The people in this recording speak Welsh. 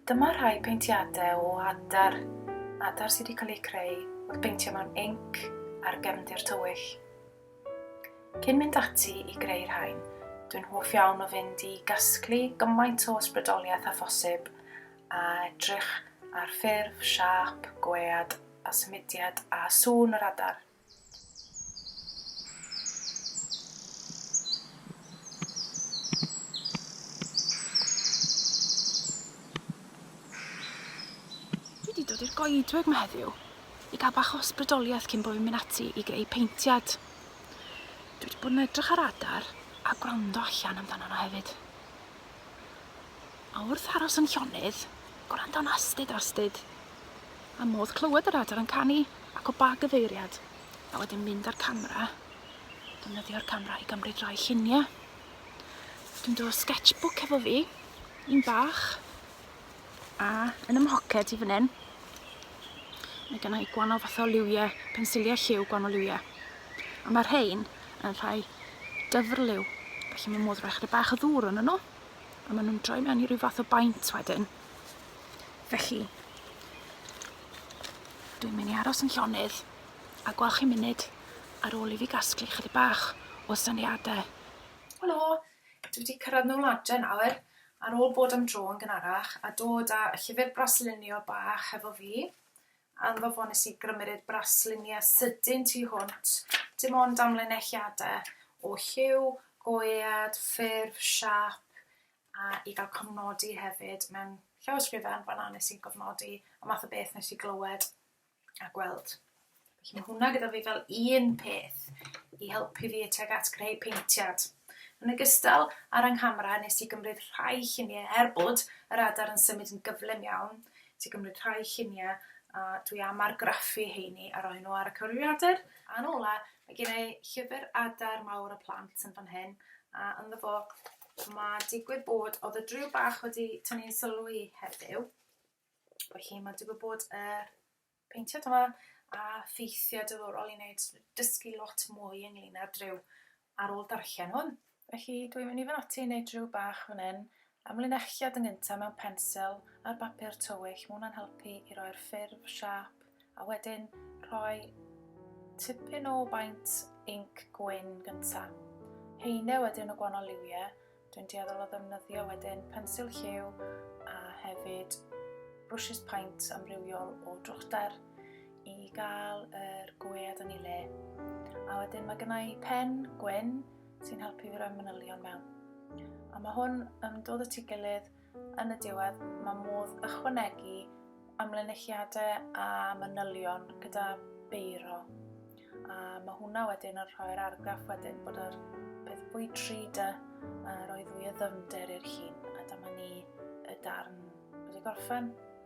Dyma rhai peintiadau o adar, adar sydd wedi cael eu creu wrth beintio mewn inc ar gefndir tywyll. Cyn mynd ati i greu rhain, dwi'n hoff iawn o fynd i gasglu gymaint o ysbrydoliaeth a phosib a edrych ar ffurf, siâp, gwead a symudiad a sŵn yr adar. Dwi 'di dod i'r goedwig 'ma heddiw i ga'l bach o ysbrydoliaeth cyn bo' fi'n myn' ati i greu paentiad. Dwi 'di bod yn edrych ar adar a gwrando allan amdano nw hefyd. A wrth aros yn llonydd, gwrando'n astud astud, a modd clywed yr adar yn canu ac o ba gyfeiriad, a wedyn mynd â'r camera, defnyddio'r camera i gymryd rai lluniau. Dwi'n dod sketchbook hefo fi, un bach, a yn ym mhoced i fan hyn, mae gen i gwahanol fath o liwiau, pensiliau lliw gwahanol liwiau. A mae rhain yn rhai dyfrliw, felly mae modd rhoi chydig bach o ddŵr yn nhw. a maen nhw'n droi mewn i ryw fath o baint wedyn. Felly, dwi'n mynd i aros yn llonydd a gweld chi munud ar ôl i fi gasglu chydig bach o syniadau. Helo, dwi wedi cyrraedd nôl adre nawr ar ôl bod am dro yn gynharach a dod â llyfr braslunio bach hefo fi. Yn fy fo nes i grymeru'r braslinie sydyn tu hwnt, dim ond amlinelliade o lliw, goead, ffurf, siap, a i gael cofnodi hefyd mewn llawysgrifen fan'na nes i'n cofnodi y math o beth nes i glywed a gweld. Felly mae hwnna gyda fi fel un peth i helpu fi tuag at greu peintiad. Yn ogystal, ar yng nghamera nes i gymryd rhai lluniau er bod yr adar yn symud yn gyflym iawn, Ti cymryd rhai lluniau a dwi am argraffu heini a roi nhw ar y cyfrifiadur. A'n ola, mae gen i llyfr adar mawr y plant yn fan hyn a ynddo fo mae digwydd bod, oedd y driw bach wedi tynnu'n sylw i heddiw, bod hi, mae digwydd bod y peintiad yma a ffeithiau diddorol i wneud, dysgu lot mwy ynglyn â'r driw ar ôl darllen hwn. Felly dwi'n mynd i fan ati i wneud driw bach fan hyn, amlinelliad yn gyntaf mewn pensil ar bapur tywyll, mae hwnna'n helpu i roi'r ffurf, siâp, a wedyn rhoi tipyn o baint inc gwyn gyntaf. Heine wedyn o gwahanol liwiau, Dwi'n dueddol o ddefnyddio wedyn pensil lliw a hefyd brwshys paent amrywiol o drwchder i gael yr gwead yn ei le. A wedyn mae gennau pen gwyn sy'n helpu fi roi manylion mewn. A mae hwn yn dod y tu gilydd Yn y diwedd, mae modd ychwanegu amlinelliadau a manylion gyda beiro. A mae hwnna wedyn yn rhoi'r argraff wedyn bod yr peth fwy tri dy a roedd fwy o ddyfnder i'r llun. A dyma ni y darn wedi gorffen.